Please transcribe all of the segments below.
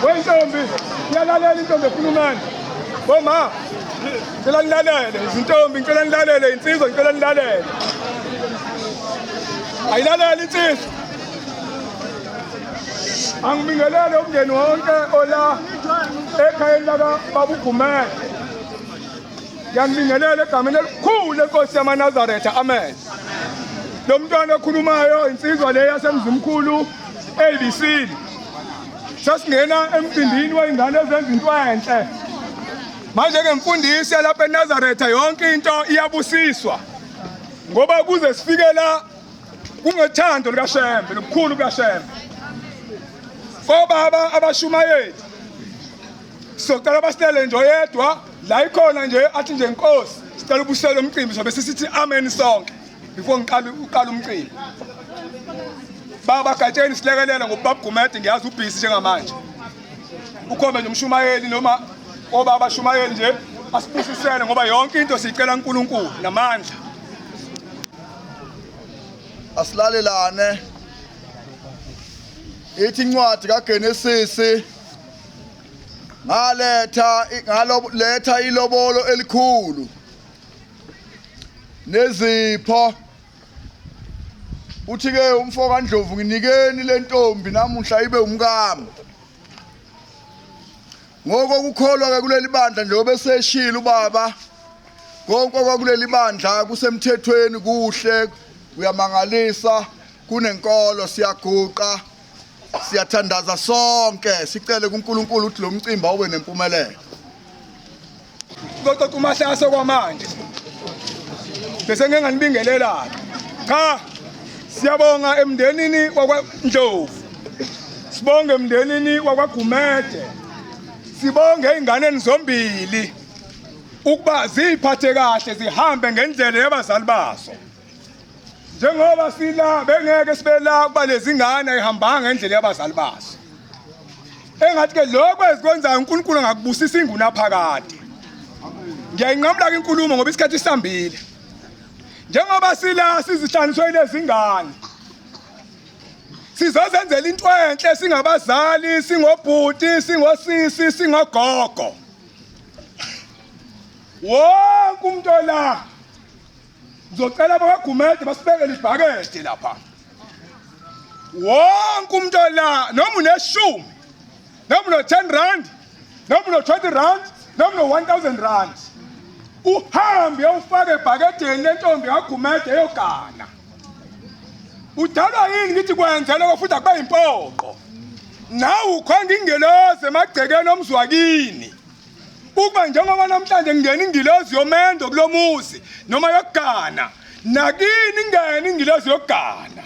wentombi yalalela intombi ekhulumani boma ngicela nilalele izintombi ngicela nilalele insizwa ngicela nilalele ayilalele insizwa angibingelele umndeni wonke ola ekhayeni laka babugumele Ngiyanibingelela egameni elikhulu lenkosi yamanazaretha amen lo mntwana okhulumayo insizwa le yasemzimkhulu abc sasingena emcimbini wey'ngane ezenza into enhle manje-ke mfundisi yalapha enazaretha yonke into iyabusiswa ngoba kuze sifike la kungethando likashembe nokukhulu kukashembe kobaba abashumayeli Socela basilele nje oyedwa la ikhona nje athi nje inkosi sicela ubusele umcimbi sobe sisithi amen sonke before ngiqala uqala umcimbi. Baba Gatsheni silekelela ngobaba Gumede ngiyazi ubhizi njengamanje. Ukhombe nje umshumayeli noma obaba shumayeli nje asibusisele ngoba yonke into siyicela uNkulunkulu namandla. Asilalelane. Ithi incwadi kaGenesis ngaletha ngaletha ilobolo elikhulu nezipho uthi ke umfo kaNdlovu nginikeni lentombi namuhla ibe umkami ngoko kukholwa ke kuleli bandla njengoba eseshila ubaba konke kwakuleli bandla kusemthethweni kuhle kuyamangalisa kunenkolo siyaguqa siyathandaza sonke sicele kuNkulunkulu ukuthi lo mcimbi awube nempumelelo kococa umahlaso kwamanje bese ngeke nganibingelela cha siyabonga emndenini wakwaNdlovu sibonge emndenini wakwaGumede sibonge ezinganeni zombili ukuba ziphathe kahle zihambe ngendlela yabazali baso njengoba sila bengeke sibe la kuba lezingane ayihambanga endlela yabazali bazo engathi ke lokho ezikwenzayo uNkulunkulu angakubusisa inguna phakade ngiyayinqamula ke inkulumo ngoba isikhathi sihambile njengoba sila sizihlanganiswe lezingane sizozenzela into enhle singabazali singobhuti singosisi singogogo wonke umuntu ola Ngizocela abakwaGumede basibekele ibhakede lapha. Wonke umuntu ola noma uneshumi noma uno-10 rand noma uno-20 rand noma uno-1000 rand uhambe ufake ebhakedeni lentombi kaGumede eyogana. Udalwa yini ngithi kwenze lokho futhi akube yimpoqo. Nawu ukhonga ingeloze emagcekeni omzwakini. ukuba njengoba namhlanje kungena ingilozi yomendo kulo muzi noma yokugana nakini ingene ingilozi yokugana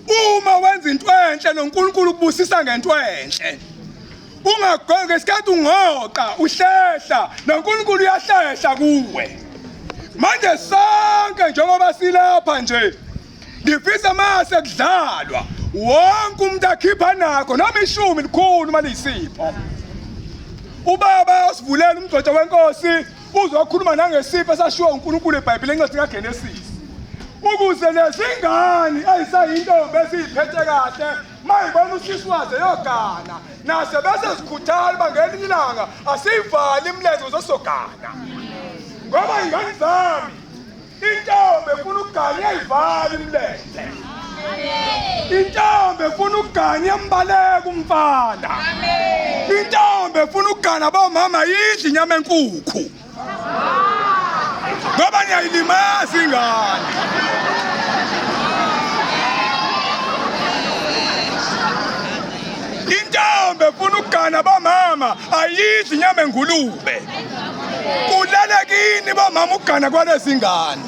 uma wenza into enhle noNkulunkulu ukubusisa ngento enhle ungagoki isikhathi ungoqa uhlehla noNkulunkulu uyahlehla kuwe manje sonke njengoba silapha nje ngifisa mase kudlalwa wonke umuntu akhipha nakho noma ishumi likhulu uma liyisipho ubaba usivulela umgcotha wenkosi uzokhuluma nangesipho esashiwo uNkulunkulu eBhayibhelini encwadi kaGenesis ukuze nezingane ezisayintombi eziyiphethe kahle mayibona usisi waze yogana nase bese zikhuthala uba ngelinye ilanga asiyivali imilenze uzosogana ngoba ingane zami Intombi efuna ukuganya ivale imlenze. Intombi efuna ukuganya mbaleka umfana. Intombi efuna ukugana bomama yidla inyama enkukhu. Ngoba niyayilimaza ingane. Intombi efuna ukugana bomama ayidla inyama engulube. kulele kini bomama ukugana kwalezi ngane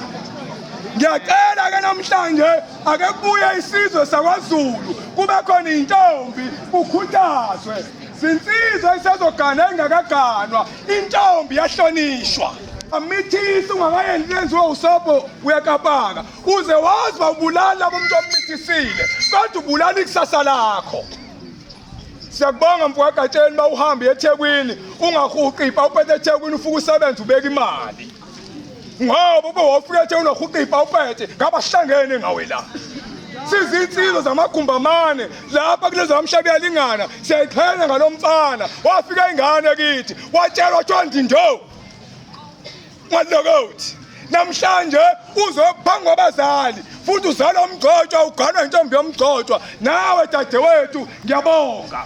ngiyacela ke namhlanje ake kubuye isizwe sakwazulu kube khona intombi kukhuthazwe zinsizwa isezogana engakaganwa intombi yahlonishwa amithisi ungakayendi lenziwe usobho uyakapaka uze wazwa ubulala bomuntu ommithisile kodwa ubulala ikusasa lakho Siyakubonga mfowakaTsheni uma uhamba eThekwini ungahuqi ipa uphethe eThekwini ufuka usebenza ubeka imali ngoba ube wofika eThekwini wahuqa ipa uphethe ngabahlangene ngawe la sizinsizwa zamagumbamane lapha kulezo bamshabi yalingana siyayiqhenya ngalo mfana wafika ingane kithi watshelwa kuthiwa ndindovu Malokothi namhlanje uzophangwa abazali futhi uzala umgcotshwa uganwa intombi yomgcotshwa nawe dadewethu ngiyabonga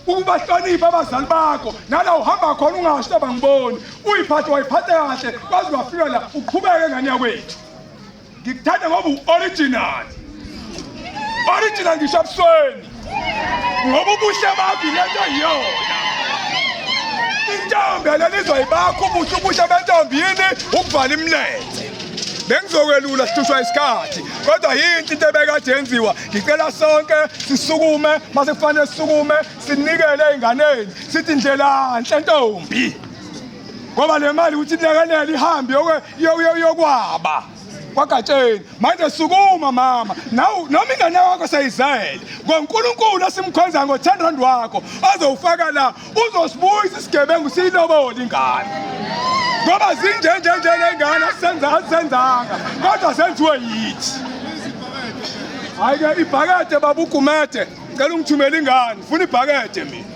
ukubahlonipha abazali bakho nala uhamba khona ungasho abangiboni uyiphathe wayiphathe kahle kwaze wafika la uqhubeke ngane yakwethu Ngikuthanda ngoba u-original. Original ngisho abusweni. Ngoba ubuhle bakho lento yiyona. Intombi leli izoyibakho ubuhle ubuhle bentombi yini ukuvala imilenze. Bengizokwelula sihlushwa isikhathi kodwa yinhle into ebekade yenziwa. Ngicela sonke sisukume mase kufanele sisukume sinikele ezinganeni sithi ndlela nhle ntombi. ngoba le mali ukuthi ilekelele ihambe yokwaba kwagatsheni manje sukuma mama nawu noma ingane yakho seyizele ngoNkulunkulu esimkhonza ngo10 rand wakho azowufaka la uzosibuyisa isigebengu siyilobole ingane ngoba zinje nje nje lengane senza asenzanga kodwa senziwe yithi hayike ibhakede babugumede cela ungithumela ingane funa ibhakede mina